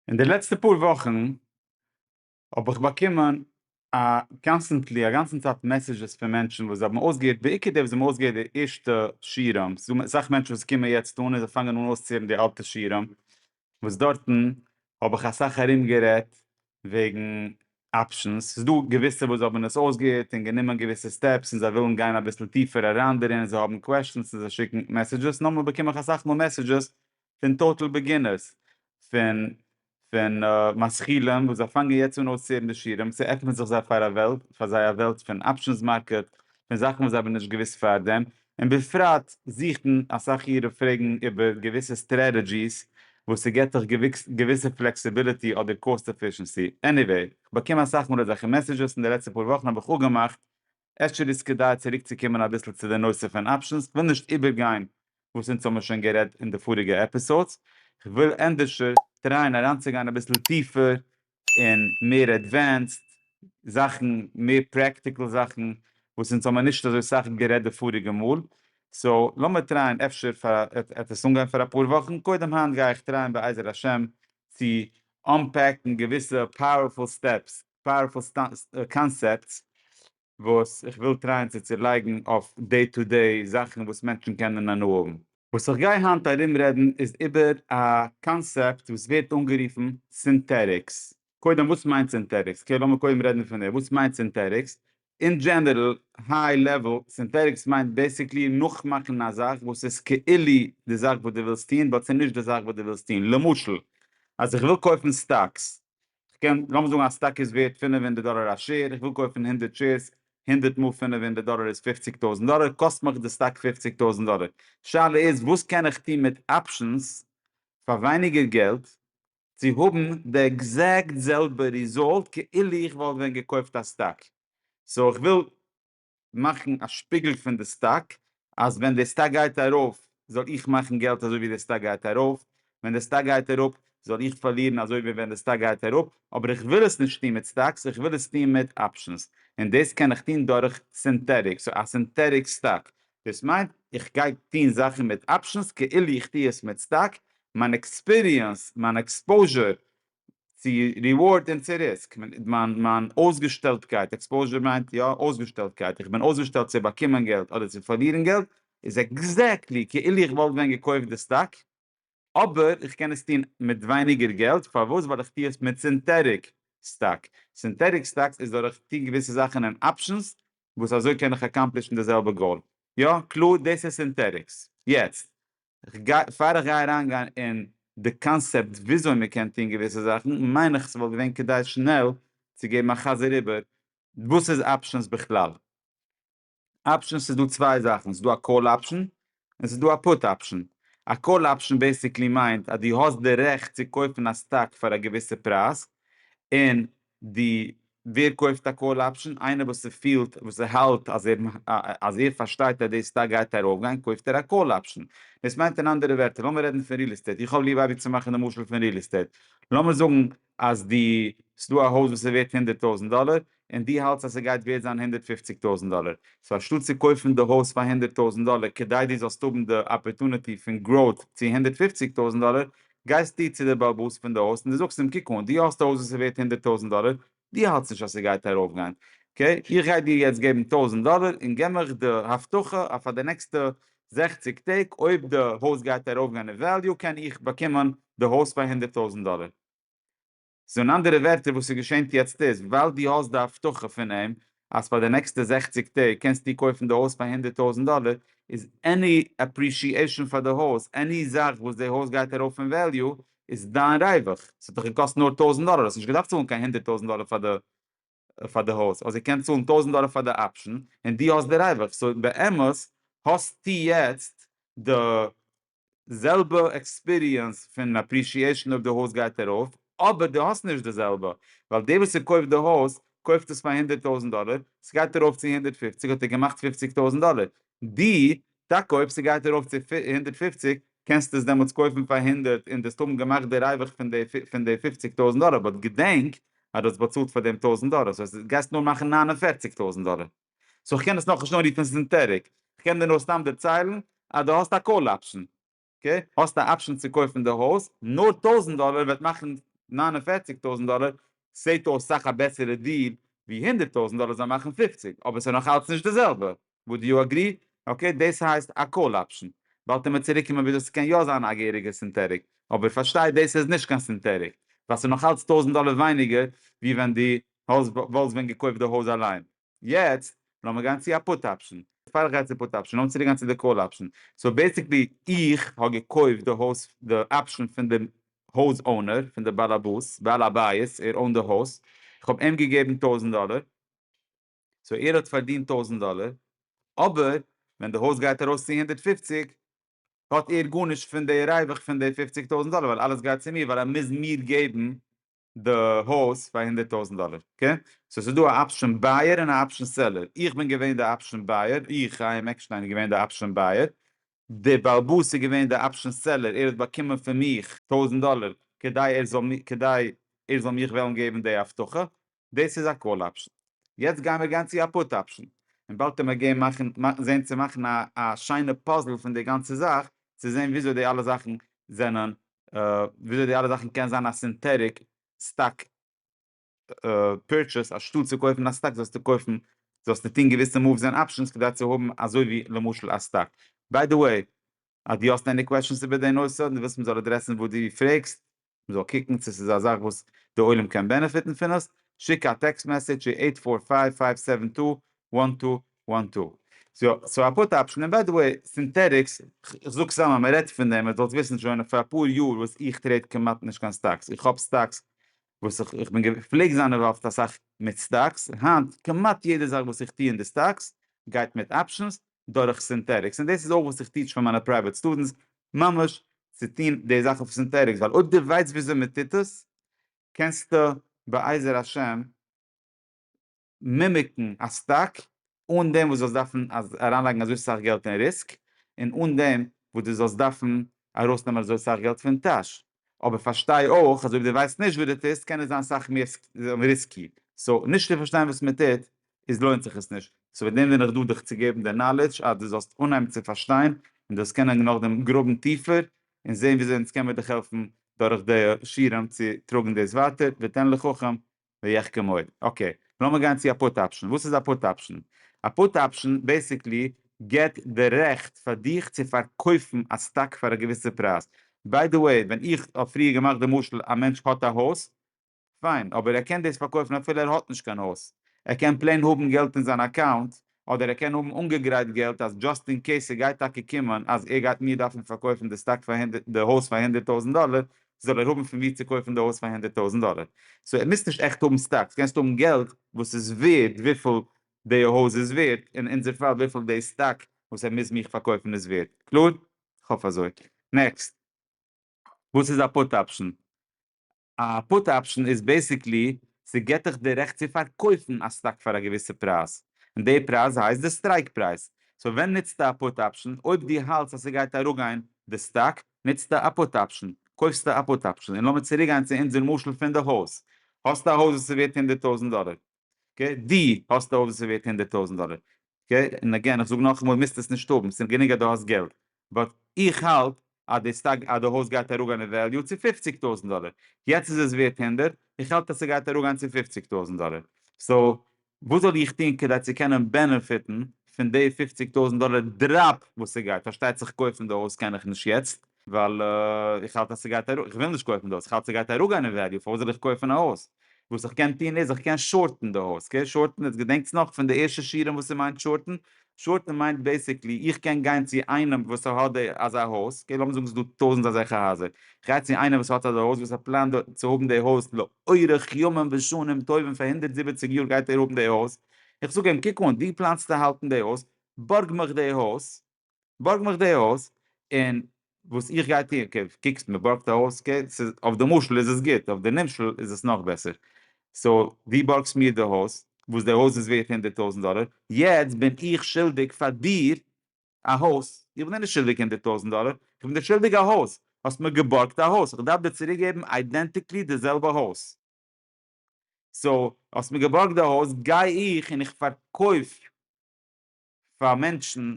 אין די לעצטע פאר וואכן האב איך באקומען א קאנסטענטלי א גאנצן צייט מעסעזשעס פון מענטשן וואס זיי האבן אויסגעהערט בעיקר די וואס זיי האבן אויסגעהערט די ערשטע שירעם, ס'איז דא אסאך מענטשן וואס קומען יעצט אן און זיי פאנגען אן אויסצוהערן די אלטע שירעם, וואס דארטן האב איך אסאך ארום גערעדט וועגן אפשענס, ס'איז דא געוויסע וואס האבן עס אויסגעהערט און גענומען געוויסע סטעפס און זיי ווילן גיין אביסל טיפער אריין דערין און זיי האבן קוועשאנס און זיי שיקן מעסעזשעס, נארמאל באקום איך אסאך מאל מעסעזשעס פון טאטעל בעגינערס, פון פון משכילים וואס זיי פאנגען יעצט אן אויסצוהערן די שיעורים, ס'עפנעט זיך זיי פאר א וועלט, פאר זיי א וועלט פון אפשענס מארקעט, פון זאכן וואס זיי האבן נישט געוואוסט פארדעם, און בפרט זוכן אסאך אירע פרעגן איבער געוויסע סטרעטעדזשיס וואס ס'געט דיך געוויסע פלעקסיביליטי אדער קאסט עפישענסי, עניוועי, כ'באקום אסאך מאל אזעלכע מעסעדזשעס און די לעצטע פאר וואכן האב איך אפגעמאכט אפשר איז כדאי צוריקצוקומען אביסל צו די נושא פון אפשענס, כ'וויל נישט איבערגיין וואס אונז האמיר שוין גערעדט אין די פאריגע עפיסאדס, כ'וויל ענדערשער טרייען אריינצוגיין אביסל טיפער און מער עדווענסד זאכן, מער פרעקטיקל זאכן וואס אונז האמיר נישט אזוי סאך גערעדט די פאריגע מאל, סאו לאמיר טרייען אפשר פאר א עפעס אנגיין פאר אפאר וואכן, קודם היינט גיי איך טרייען בעזר השם צו אנפעקן געוויסע פאוערפול סטעפס פאוערפול קאנסעפטס וואס איך וויל טרייען צו צולייגן אויף דעי טו דעי זאכן וואס מענטשן קענען הנאה האבן. וואס איך גיי היינט ארום רעדן איז איבער א קאנסעפט וואס ווערט אנגערופן סינטעטיקס. קודם וואס מיינט סינטעטיקס? אקעי לאמיר קודם רעדן פון דעם, וואס מיינט סינטעטיקס? אין דזשענערל, היי לעוועל, סינטעטיקס מיינט בעסיקלי נאכמאכן א זאך וואס איז כאילו די זאך וואס דו ווילסט טון באט ס'נישט די זאך וואס דו ווילסט טון. למשל אז איך וויל קויפן סטאקס כ'קען, לאמיר זאגן א סטאק איז ווערט פינף הונדערט דאלער א שעיר, איך וויל קויפן הונדערט שעירס, הונדערט מאל פינף הונדערט דאלער איז פופציג טויזנט דאלער, קאסט מיך די סטאק פופציג טויזנט דאלער. שאלה איז וואס קען איך טון מיט אפשענס פאר ווייניגער געלט צו האבן די עקזעקט זעלבע ריזאלט כאילו איך וואלט ווען געקויפט א סטאק. סאו איך וויל מאכן א שפיגל פון די סטאק אז ווען די סטאק גייט ארויף זאל איך מאכן געלט אזוי ווי די סטאק גייט ארויף, ווען די סטאק גייט אראפ זאל איך פארלירן אזוי ווי ווען די סטאק גייט אראפ, אבער איך וויל עס נישט טון מיט סטאקס איך וויל עס טון מיט אפשענס און דאס קען איך טון דורך סינטעטיק, סאו א סינטעטיק סטאק דאס מיינט איך גיי טון זאכן מיט אפשענס כאילו איך טו עס מיט סטאק, מיין עקספיריענס מיין עקספאוזשער צו ריווארד און צו ריסק, מיין מיין אויסגעשטעלטקייט, עקספאוזשער מיינט יא אויסגעשטעלטקייט, איך בין אויסגעשטעלט צו באקומען געלט אדער צו פארלירן געלט, איז עקזעקטלי כאילו איך וואלט ווען געקויפט די סטאק, אבער איך קען עס טון מיט ווייניגער געלט, פארוואס? ווייל איך טו עס מיט סינטעטיק סטאק, סינטעטיק סטאקס איז דורך טון געוויסע זאכן אין אפשענס וואס אזוי קען איך אקאמפלישן די זעלבע גאול, יא קלאר דאס איז סינטעטיקס, יעצט כ'גיי, פאר איך גיי אריין גיין אין די קאנסעפט וויאזוי מען קען טון געוויסע זאכן, מיין איך ס'וואלט געווען כדאי שנעל צו געבן א חזר איבער וואס איז אפשענס בכלל. אפשענס איז דא צוויי זאכן, ס'איז דא א קאל אפשען און ס'איז דא א פוט אפשען. א קאל אפשען בעיסיקלי מיינט אז דו האסט די רעכט צו קויפן א סטאק פאר א געוויסע פרייז, און די ווער קויפט א קאל אפשען? איינער וואס ס'פילט וואס ער האלט אז ער אז ער פארשטייט אז די סטאק גייט ארויפגיין קויפט ער א קאל אפשען. דאס מיינט אין אנדערע ווערטער לאמיר רעדן פון ריעל עסטעיט איך האב ליב אייביג צו מאכן די משל פון ריעל עסטעיט לאמיר זאגן אז די ס'דא א הויז וואס איז ווערט הונדערט טויזענט דאלער און די האלטסט אז ס'גייט ווערט זיין הונדערט פופציג טויזענט דאלער סאו אנשטאט צו קויפן די הויז פאר הונדערט טויזענט דאלער כדי די זאלסט האבן די אפערטוניטי פון גראוט צו הונדערט פופציג טויזענט דאלער גייסטו צו די בעל בית פון די הויז און די זאגסט אים קוק אן דו האסט א הויז וואס איז ווערט הונדערט טויזענט דאלער, דו האלטסט נישט אז ס'גייט ארויפגיין, אקעי איך גיי דיר יעצט געבן טויזענט דאלער און געב מיך די הבטחה אז פאר די נעקסטע זעכציק טעג אויב די הויז גייט ארויפגיין אין וועליו קען איך באקומען די הויז פאר הונדערט טויזענט דאלער. סאו אין אנדערע ווערטער וואס ס'געשענט יעצט איז ווייל דו האסט די הבטחה פון אים אז פאר די נעקסטע זעכציג טעג קענסטו קויפן די הויז פאר הונדערט טויזנט דאלער איז עני אפרישיעשאן פאר די הויז עני זאך וואס די הויז גייט ארויף אין וועליו איז דיין ריווח ס'האט דיך געקאסט נאר טויזנט דאלער האסט נישט געדארפט צאלן קיין הונדערט טויזנט דאלער פאר די פאר די הויז אויב זי קען צאלן טויזנט דאלער פאר די אפשן און דו האסט די ריווח סאו באמת האסטו יעצט די זעלבע עקספיריענס פון אפרישיעשן אויב די הויז גייט ארויף אבער דו האסט נישט די זעלבע ווייל דער וואס ס'קויפט די הויז קויפט עס פאר הונדערט טויזנט דאלער ס'גייט ארויף צו הונדערט פופציג האט ער געמאכט פופציג טויזנט דאלער ד, טאקע אויב ס'גייט ארויף צו הונדערט פֿופֿציק קענסטו עס דעמאלטס קויפן פאר הונדערט און דו האסט אמאל געמאכט די ריווח פון די פון די פופציג טויזנט דאלער באט געדענק אז דו האסט באצאלט פאר דעם טויזנט דאלער סאו עס גייסט נאר מאכן נײַן און פֿערציק טויזנט דאלער סאו כ'קען עס נאכנישט אנרופן ס'איז אינטערעג כ'קען דיר נאר סתם דערציילן אז דו האסט א קאל אפשן. אקעי? האסט א אפשען צו קויפן די הויז, נאר טויזנט דאלער וועט מאכן נײַן און פֿערציק טויזנט דאלער, ס'זעט אויס סאך א בעסערע דיל ווי הונדערט טויזנט דאלער זאל מאכן פֿופֿציק, אבער ס'איז נאך אלץ נישט די זעלבע, וואד יו אגרי? אקעי דאס הייסט א קאל אפשען. באלד עמער צוריקקומען וויאזוי ס'קען יא זיין א געהעריגע סינטעטיק, אבער פארשטיי דאס איז נישט קיין סינטעטיק, ווייל ס'איז נאך אלץ טויזנט דאלער ווייניגער ווי ווען דו האסט וואלסט ווען געקויפט די הויז אליין. יעצט לאמיר גיין צו א פוט אפשן, פאר איך גיי צו פוט אפשן לאמיר צוריקגיין צו די קאל אפשן, סאו בעסיקלי איך האב געקויפט די הויז די אפשן פון די הויז אונער פון די באלעבאס בעל הבית ער אונט די הויז איך האב אים געגעבן טויזנט דאלער סאו ער האט פארדינט טויזנט דאלער אבער ווען די הויז גייט ארויס צו הונדערט פופציג האט ער גארנישט פון די ריווח פון די פופציג טויזנט דאלער ווייל אלעס גייט צו מיר ווייל ער מוז מיר געבן די הויז פאר הונדערט טויזענט דאלער קע סאו ס'איז דא א אפשען בייער און א אפשען סעלער איך בין געווען די אפשען בייער איך חיים עקשטיין איז געווען די אפשען בייער די באלבאס איז געווען די אפשען סעלער ער האט באקומען פון מיך טויזענט דאלער כדי ער זאל מיר כדי ער זאל מיך וועלן געבן די הבטחה דאס איז א קאל אפשען יעצט גייען מיר גיין צו א פוט אפשען און באלד קען מען גיין מאכן זעהן צו מאכן א שיינע פאזל פון די גאנצע זאך צו זעהן וויאזוי די אלע זאכן זענען וויאזוי די אלע זאכן קען זיין א סינטעטיק סטאק פירטשעס, אנשטאט צו קויפן א סטאק זאלסטו קויפן זאלסטו טון געוויסע מאווס און אפשענס כדי צו האבן אזוי ווי למשל א סטאק. ביי די וועי אז דו האסט עני קוועשאנס איבער די נושא אדער דו ווילסט מען זאל אדרעסן וואס דו פרעגסט, מען זאל קוקן צו ס'איז א זאך וואס די עולם קען בענעפיטן פון עס, שיק א טעקסט מעסעדזש צו עיט פאר פייוו פייוו סעווען טו וואן טו וואן טו. סאו א פוט אפשען, און ביי די וועי, סינטעטיקס, כ'זאג סתם אז מ'רעדט פון דעם, איר זאלט וויסן שוין פאר אפאר יאר וואס איך טרעיד כמעט נישט קיין סטאקס, איך האב סטאקס וואס איך בין, כ'פלעג זיין אינוואלווד אסאך מיט סטאקס, היינט כמעט יעדע זאך וואס איך טו אין די סטאקס גייט מיט אפשענס דורך סינטעטיקס, און דאס איז אויך וואס איך טיטש פאר מיינע פרייוועט סטודענטס, ממש צו טון די זאך אויף סינטעטיקס, ווייל אויב דו ווייסט וויאזוי מ'טוט עס, קענסטו בעזר השם, מימיקן א סטאק אן דעם וואס דו זאלסט דארפן אריינלייגן אזוי סאך געלט אין ריסק, און אן דעם וואס דו זאלסט דארפן ארויסנעמען אזוי סאך געלט פון טאש. אבער פארשטיי אויך אז אויב דו ווייסט נישט וואס דו טוסט קען עס זיין סאך מער ריסקי. סאו נישט צו פארשטיין וואס מען טוט איז לוינט זיך עס נישט. סאו וועגן דעם בין איך דא דיך צו געבן די נאלעדזש אז דו זאלסט אנהייבן צו פארשטיין און דאס קענען נאכדעם גראבן טיפער און זען וויאזוי אונז קען מיר דיך העלפן דורך די שירעם צו טראגן דאס ווייטער ותן לחכם ויחכה מועד. אקעי, לאמיר גיין צו א פוט אפשן. וואס איז א פוט אפשן? א פוט אפשן בעיסיקלי גיבט די רעכט פאר דיך צו פארקויפן א סטאק פאר א געוויסע פרייז. ביי די וועי, ווען איך האב פריער געמאכט די משל, א מענטש האט א הויז, פיין, אבער ער קען דאס פארקויפן אפילו ער האט נישט קיין הויז. ער קען פלעין האבן געלט אין זיין אקאונט אדער ער קען האבן אנגעגרייט געלט אז דזשאסט אין קעיס ס'גייט טאקע קומען אז ער גייט מיר דארפן פארקויפן די סטאק פאר הונדערט די הויז פאר הונדערט טויזענט דאלער זאל ער האבן פון ווי צו קויפן די הויז פאר הונדערט טויזענט דאלער סאו ער מוזט נישט עכט האבן סטאקס קענסט האבן געלט וואס איז ווערד וויפיל די הויז איז ווערד אין אונזער פאל וויפיל די סטאק וואס ער מוז מיך פארקויפן איז ווערד קלאר? כ'האף אזוי. נעקסט. וואס איז א פוט אפשן? א פוט אפשן איז בעסיקלי ס'געט דיך די רעכט צו פארקויפן א סטאק פאר א געוויסע פרייז, און די פרייז הייסט די סטרייק פרייז, סאו ווען נוצטו א פוט אפשן? אויב דו האלטס אז ס'גייט אראפגיין די סטאק, נוצטו א פוט אפשן, קויפסטו א פוט אפשן, און לאמיר צוריקגיין צו אונזער משל פון די הויז, האסטו א הויז וואס ס'ווערט הונדערט טויזנט דאלער, אקעי, דו האסט א הויז וואס איז ווערט הונדערט טויזענט דאלער, אקעי, און אגעין איך זאג נאכאמאל מוזט עס נישט האבן, ס'איז גענוג אז דו האסט געלט, באט איך האלט אז די סטאק אז די הויז גייט אראפגיין אין וועליו צו פופציג טויזענט דאלער, יעצט איז עס ווערט הונדערט, איך האלט אז ס'גייט אראפגיין צו פופציג טויזענט דאלער, סאו וואס זאל איך טון כדי צו קענען בענעפיטן פון די פופציג טויזענט דאלער דראפ וואס ס'גייט, פארשטייט זיך קויפן די הויז קען איך נישט יעצט, ווייל איך האלט אז ס'גייט ארויף, איך וויל נישט קויפן די הויז, איך האלט ס'גייט אראפגיין אין וועליו, פארוואס זאל איך קויפן א הויז? וואס איך קען טון איז, איך קען שארטן די הויז, אקעי? שארטן, יעצט געדענקטס נאך פון די ערשטע שיעורים וואס ס'מיינט שארטן? שארטן מיינט בעיסיקלי, איך קען גיין צו איינעם וואס האט די אזא הויז, אקעי לאמיר זאגן ס'איז דא טויזנט אזעלכע הייזער, איך גיי צו איינעם וואס האט אזא הויז, וואס ער פלאנט צו האבן די הויז לאורך ימים ושנים טובים, פאר הונדערט זיבעציק יאר גייט ער האבן די הויז, איך זאג אים קוק אן, דו פלאנסט צו האלטן די הויז, בארג מיך די הויז, בארג מיך די הויז, און וואס איך גיי טון, אקעי, קוקסט מען בארגט א הויז, אקעי, ס'איז, אויף די משל איז עס גוט, אויף די נמשל איז עס נאך בעסער, סאו, דו בארגסט מיר די הויז, וואס די הויז איז ווערט הונדערט טויזנט דאלער, יעצט בין איך שולדיג פאר דיר א הויז, איך בין דיר נישט שולדיג הונדערט טויזנט דאלער, איך בין דיר שולדיג א הויז, האסט מיר געבארגט א הויז, איך דארף דיר צוריק געבן איידענטיקלי די זעלבע הויז, סאו, האסט מיר געבארגט די הויז, גיי איך און איך פארקויף. פאר מענטשן,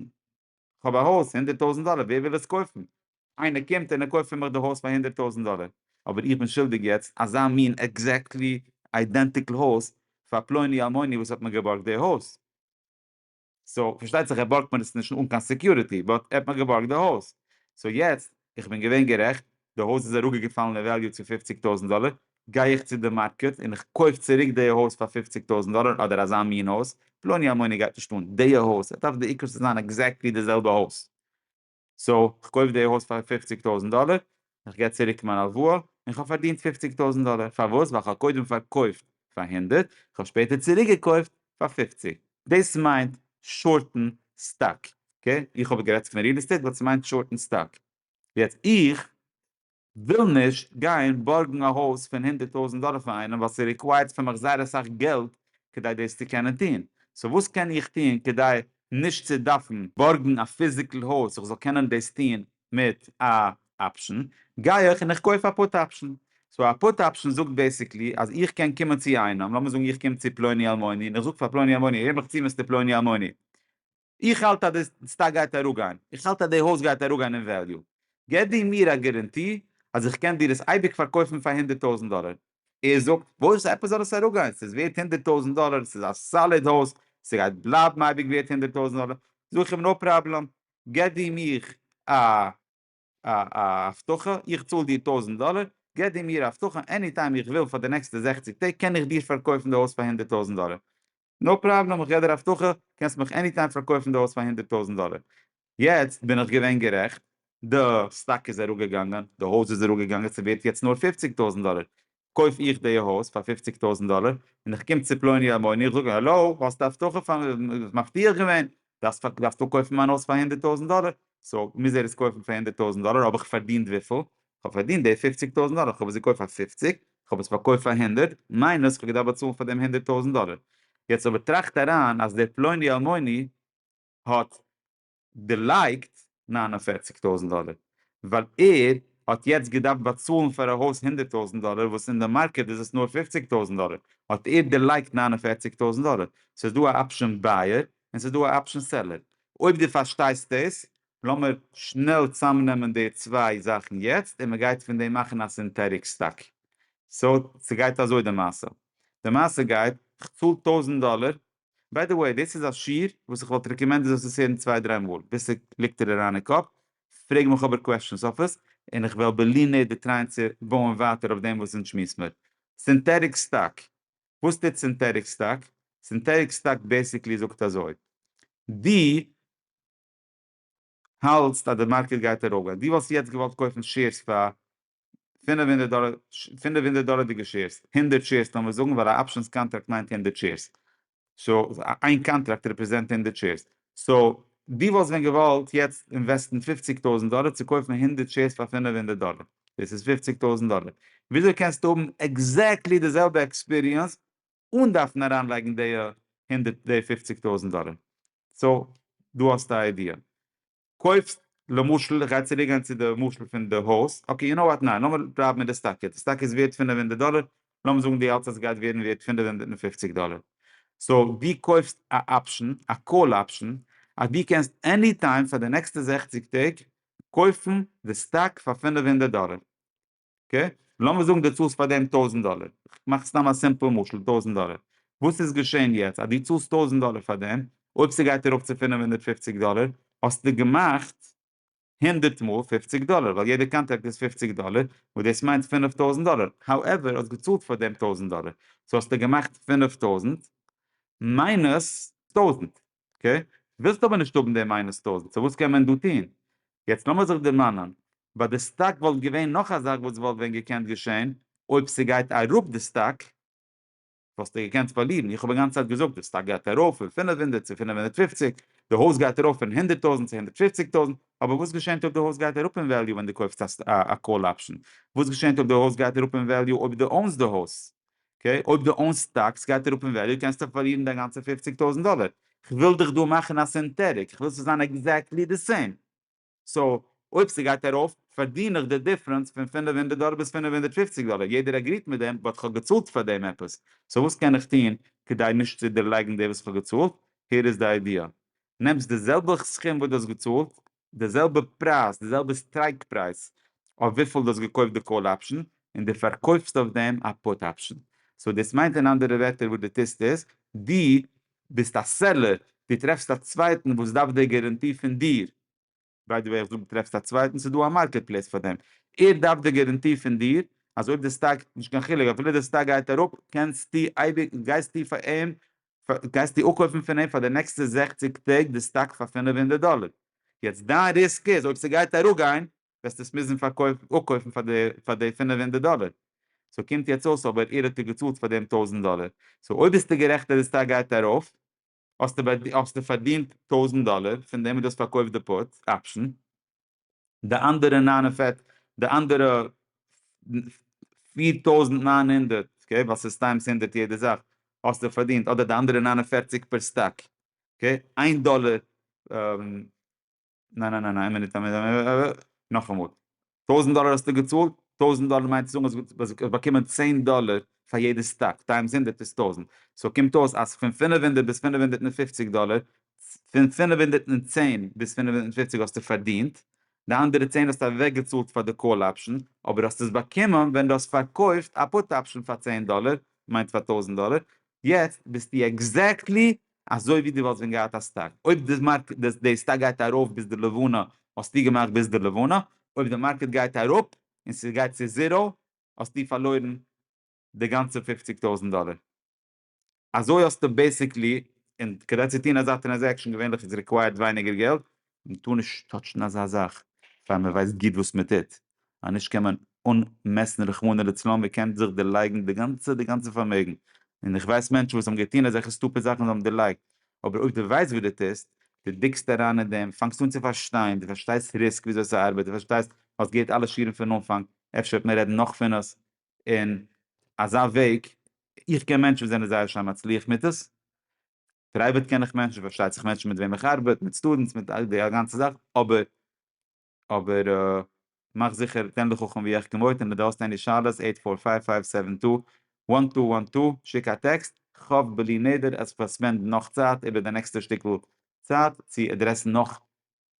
כ'האב א הויז פון הונדערט טויזנט דאלער, ווער וויל עס קויפן? איינער קומט און ער קויפט פון מיך די הויז פאר הונדערט טויזנט דאלער, אבער איך בין שולדיג יעצט אזא מין עקזעקטלי איידענטיקל הויז פאר פלוני אלמוני וואס האט מיר געבארגט די הויז. סאו, פארשטייט זיך ער בארגט מיר עס נישט אן קיין סעקיוריטי, באט ער האט מיר געבארגט די הויז, סאו יעצט איך בין געווען גערעכט, די הויז איז אראפגעפאלן אין וועליו צו פופציג טויזנט דאלער, גיי איך צו די מארקעט און איך קויף צוריק די הויז פאר פופציג טויזנט דאלער אדער אזא מין הויז, פלוני אלמוני גייט נישט אן די הויז, ער דארף די עיקר צו זיין עקזעקטלי די זעלבע הויז, סאו איך קויף די הויז פאר פופציג טויזנט דאלער, איך גיב צוריק מיין הלוואה און כ'האב פארדינט פופציג טויזנט דאלער, פארוואס? ווייל כ'האב קודם פארקויפט פאר הונדערט, כ'האב שפעטער צוריקגעקויפט פאר פופציג. דאס מיינט שארטן סטאק, אקעי? איך האב גערעדט פון ריעל עסטעיט באט ס'מיינט שארטן סטאק. יעצט איך וויל נישט גיין בארגן א הויז פון הונדערט טויזנט דאלער פון איינעם ווייל ס'ריקווייערט פון מיך זייער אסאך געלט כדי דאס צו קענען טון. סאו וואס קען איך טון כדי נישט צו דארפן בארגן א פיזיקל הויז איך זאל קענען דאס טון מיט א אפשן גיי איך און איך קויף א פוט אפשן, סאו א פוט אפשן זאגט בעיסיקלי אז איך קען קומען צו איינעם, לאמיר זאגן איך קום צו פלוני אלמוני און איך זאג פאר פלוני אלמוני הער מיך צו מיסטער פלוני אלמוני איך האלט אז די סטאק גייט אראפגיין, איך האלט אז די הויז גייט אראפגיין אין וועליו, געב דו מיר א גערענטי אז איך קען דיר עס אייביג פארקויפן פאר הונדערט טויזנט דאלער, ער זאגט וואס עפעס זאל עס אראפגיין, ס'איז ווערט הונדערט טויזנט דאלער, ס'איז א סאליד הויז, ס'גייט בלייבן אייביג ווערט הונדערט טויזנט דאלער, זאג איך אים נאו פראבלעם, געב דו מיך א א א הבטחה, איך צאל דיר טויזנט דאלער, געב דו מיר א הבטחה עני טיים איך וויל פאר די נעקסטע זעכציק טעג קען איך דיר פארקויפן די הויז פאר הונדערט טויזנט דאלער, נאו פראבלעם איך געב דיר א הבטחה קענסט מיך עני טיים פארקויפן די הויז פאר הונדערט טויזנט דאלער, יעצט בין איך געווען גערעכט, די סטאק איז אראפגעגאנגען, די הויז איז אראפגעגאנגען ס'ווערט יעצט נאר פופציג טויזנט דאלער, קויף איך די הויז פאר פופציג טויזענט דאלער און איך קום צו פלוני אלמוני איך זאג אים העלא האסט א הבטחה פאר מיר דו האסט מבטיח געווען דארפסט דארפסט אפקויפן מיין הויז פאר הונדערט טויזענט דאלער סאו מוז ער עס קויפן פאר הונדערט טויזענט דאלער האב איך פארדינט וויפיל? כ'האב פארדינט די פופציג טויזענט דאלער כ'האב עס געקויפט פאר פופציג כ'האב עס פארקויפט פאר הונדערט מיינוס כ'האב געדארפט באצאלן פאר דעם הונדערט טויזענט דאלער יעצט אבער טראכט אריין אז דער פלוני אלמוני האט דערלייגט נײַן און פֿערציק טויזנט דאלער ווייל ער האט יעצט געדארפט באצאלן פאר א הויז הונדערט טויזנט דאלער וואס אין די מארקעט איז עס נאר פֿופֿציק טויזנט דאלער האט ער דערלייגט נײַן און פֿערציק טויזנט דאלער ס'איז דא א אפשען בייער און ס'איז דא א אפשען סעלער אויב די פארשטייסט דאס לאמיר שנעל צאמנעמען די צוויי זאכן יעצט און מ'גייט פון דעם מאכן א סינטעטיק סטאק סאו ס'גייט אזוי די מעשה די מעשה גייט כ'צאל טויזנט דאלער ביי די וועי, דאס איז א שיעור וואס איך וואלט רעקאמענדעד זאלסט עס הערן צוויי דריי מאל ביז ס'ליגט דיר אריין אין קאפ, פרעג מיך אבער קוועשאנס אויף עס, און איך וועל בלי נ די טרייען צו בויען ווייטער אויף דעם וואס אונז שמועס מיר. סינטעטיק סטאק, וואס טוט סינטעטיק סטאק? סינטעטיק סטאק בעיסיקלי זאגט אזוי, דו. האלטסט אז די מארקעט גייט אראפגיין? דו וואלסט יעצט געוואלט קויפן שעירס פאר פֿינף הונדערט דאלער, פֿינף הונדערט דאלערדיגע שעירס, הונדערט שעירס לאמיר זאגן, ווייל א אפשענס קאנטראקט מיינט הונדערט שעירס, סאו איין קאנטראקט רעפרעזענט הונדערט שעירס, סאו דו וואלסט ווען געוואלט יעצט אינוועסטן פֿופֿציק טויזנט דאלער צו קויפן הונדערט שעירס פאר פֿינף הונדערט דאלער, דאס איז פֿופֿציק טויזנט דאלער, וויאזוי קענסטו האבן עקזעקטלי די זעלבע עקספיריענס אן דארפן אריינלייגן די הונדערט די פופציג טויזנט דאלער. סאו דא האסטו א איידיע. קויפסט למשל איך גיי צוריק גיין צו די משל פון די הויז, אקעי יו נאו וואט ניין לאמיר בלייבן מיט די סטאק יעצט, די סטאק איז ווערט פינף הונדערט דאלער, לאמיר זאגן דו האלטסט אז עס גייט ווערן ווערט פינף הונדערט און פופציג דאלער. סאו דו קויפסט א אפשן, א קאל אפשן, אז דו קענסט עני טיים פאר די נעקסטע זעכציג טעג קויפן די סטאק פאר פינף הונדערט דאלער. אקעי? לאמיר זאגן דו צאלסט פאר דעם טויזנט דאלער, כ'מאך סתם א סימפל משל, טויזנט דאלער, וואס איז געשען יעצט אז דו צאלסט טויזנט דאלער פאר דעם, אויב ס'גייט ארויף צו פֿינף הונדערט פֿופֿציק דאלער, האסטו געמאכט הונדערט מאל פֿופֿציק דאלער, ווייל יעדע קאנטראקט איז פֿופֿציק דאלער, וואס דאס מיינט פֿינף טויזנט דאלער, האועווער האסט געצאלט פאר דעם טויזנט דאלער, סאו האסטו געמאכט פֿינף טויזנט מיינוס טויזנט, אקעי? ווילסט אבער נישט האבן די מיינוס טויזענט, סאו וואס קען מען דא טוהן? יעצט לאמיר זיך דערמאנען, ביי די סטאק וואלט געווען נאך א זאך וואס וואלט ווען געקענט געשעהן, אויב ס'גייט אראפ די סטאק, וואלסטו געקענט פארלירן, איך האב אינגאנצן צייט געזאגט די סטאק גייט ארויף פון פֿינף הונדערט צו פֿינף הונדערט פֿופֿציק, די הויז גייט ארויף פון הונדערט טויזענט צו הונדערט פֿופֿציק טויזענט, אבער וואס געשענט אויב די הויז גייט אראפ אין וועליו ווען די קויפסט א קאל אפשען? וואס געשענט אויב די הויז גייט אראפ אין וועליו אויב די אוינס די הויז? אקעי? אויב דו אונסט סטאקס גייט אראפ אין וועליו קענסטו פארלירן דיין גאנצע פֿופֿציק טויזנט דאלער, כ'וויל דיך דא מאכן א סינטעטיק, איך וויל ס'זאל זיין עקזעקטלי די סעים, סאו אויב ס'גייט ארויף פארדין איך די דיפרענס פון פֿינף הונדערט דאלער ביז פֿינף הונדערט פֿופֿציק דאלער, יעדער עגריט מיט דעם, באט כ'האב געצאלט פאר דעם עפעס, סאו וואס קען איך טון כדי נישט צו דערלייגן די וואס כ'האב געצאלט, הער איז די איידיע, נעמסט די זעלבע סכום וואס דו האסט געצאלט די זעלבע פרייז, די זעלבע סטרייק פרייז אויף וויפיל דו האסט געקויפט די קאל אפשען, און דו פארקויפסט אויף דעם א פוט אפשען. סאו דאס מיינט אין אנדערע ווערטער וואס דו טוסט איז, דו ביסט א סעלער, דו טרעפסט א צווייטן וואס דארף די גאראנטי פון דיר, ביי די וועי איך זאג דו טרעפסט א צווייטן, ס'איז דא א מארקעט פלעיס פאר דעם, ער דארף די גאראנטי פון דיר אז אויב די סטאק, נישט קיין חילוק, אפילו די סטאק גייט אראפ, קענסטו אייביג, גייסטו פאר אים גייסטו אפקויפן פון אים פאר די נעקסטע זעכציג טעג די סטאק פאר פינף הונדערט דאלער, יעצט דיין ריסק איז אויב ס'גייט אראפגיין וועסטו עס מוזן אפקויפן פאר די פאר די פינף הונדערט דאלער, סאו קומט יעצט אויס אבער איר האט איר געצאלט פאר דעם טויזנט דאלער, סאו אויב ביסטו גערעכט אז די סטאק גייט ארויף האסטו האסטו פארדינט טויזנט דאלער פון דעם אז דו האסט פארקויפט די פוט אפשן. די אנדערע נײַן און פֿערציק די אנדערע פֿיר טויזנט נײַן הונדערט אקעי ווייל ס'איז טיימס הונדערט יעדע זאך האסטו פארדינט אדער די אנדערע נײַן און פֿערציק פער סטאק אקעי איין דאלער ניין ניין ניין איין מינוט נאכאמאל טויזנט דאלער האסטו געצאלט טויזנט דאלער מיינט צו זאגן אז דו האסט באקומען צען דאלער פאר יעדע סטאק טיימס הונדערט איז טויזנט סאו קומט אויס אז פון פֿינף הונדערט ביז פֿינף הונדערט און פֿופֿציק דאלער פון פֿינף הונדערט און צען ביז פֿינף הונדערט און פֿופֿציק האסטו פארדינט, די אנדערע צען האסטו אוועקגעצאלט פאר די קאל אפשען, אבער האסט עס באקומען ווען דו האסט פארקויפט א פוט אפשען פאר צען דאלער, מיינט פאר טויזנט דאלער, יעצט ביסטו עקזעקטלי אזוי ווי דו וואלסט ווען געהאט א סטאק, אויב די מארקעט די סטאק גייט ארויף ביז די לבנה האסטו געמאכט ביז די לבנה, אויב די מארקעט גייט אראפ און ס'גייט צו זיראו האסטו פארלוירן די גאנצע פֿופֿציק טויזנט דאלער. אזוי האסטו בעסיקלי, און כדי צו טון אזא טרענזעקשאן געווענליך איז ריקווייערט ווייניגער געלט, מען טאר נישט טאטשן אזא זאך פאר מען ווייסט גוט וואס מען טוט, אז נישט קען מען אנמעסן רחמנא לצלן ווער קען זיך דערלייגן די גאנצע די גאנצע פארמעגן, און איך ווייס מענטשן וואס האבן געטון אזעלכע סטופיד זאכן זיי האבן דערלייגט, אבער אויב דו ווייסט וואס דו טוסט, דו דיקסט אריין אין דעם, פאנגסט אן צו פארשטיין, דו פארשטייסט ריסק וויאזוי ס'ארבעט, דו פארשטייסט, האסט געהערט אלע שיעורים פון אנפאנג, אפשר וועט מען רעדן נאך פון עס, אין אזא וועג, איך קען מענטשן וואס זענען זייער שיין מצליח מיט עס, פרייוועט קען איך מענטשן, פארשטייט זיך מענטשן מיט וועם איך ארבעט, מיט סטודענטס, מיט די גאנצע זאך, אבער אבער מאך זיכער תן לחכם ויחכם עוד, און אויב דו האסט עני שאלות, אייט פאר פייוו פייוו סעווען טו וואן טו וואן טו, שיק א טעקסט, כ'האף בלי נדר אז כ'וועל ספענדן נאך צייט איבער די נעקסטע שטיקל צייט צו עדרעסן נאך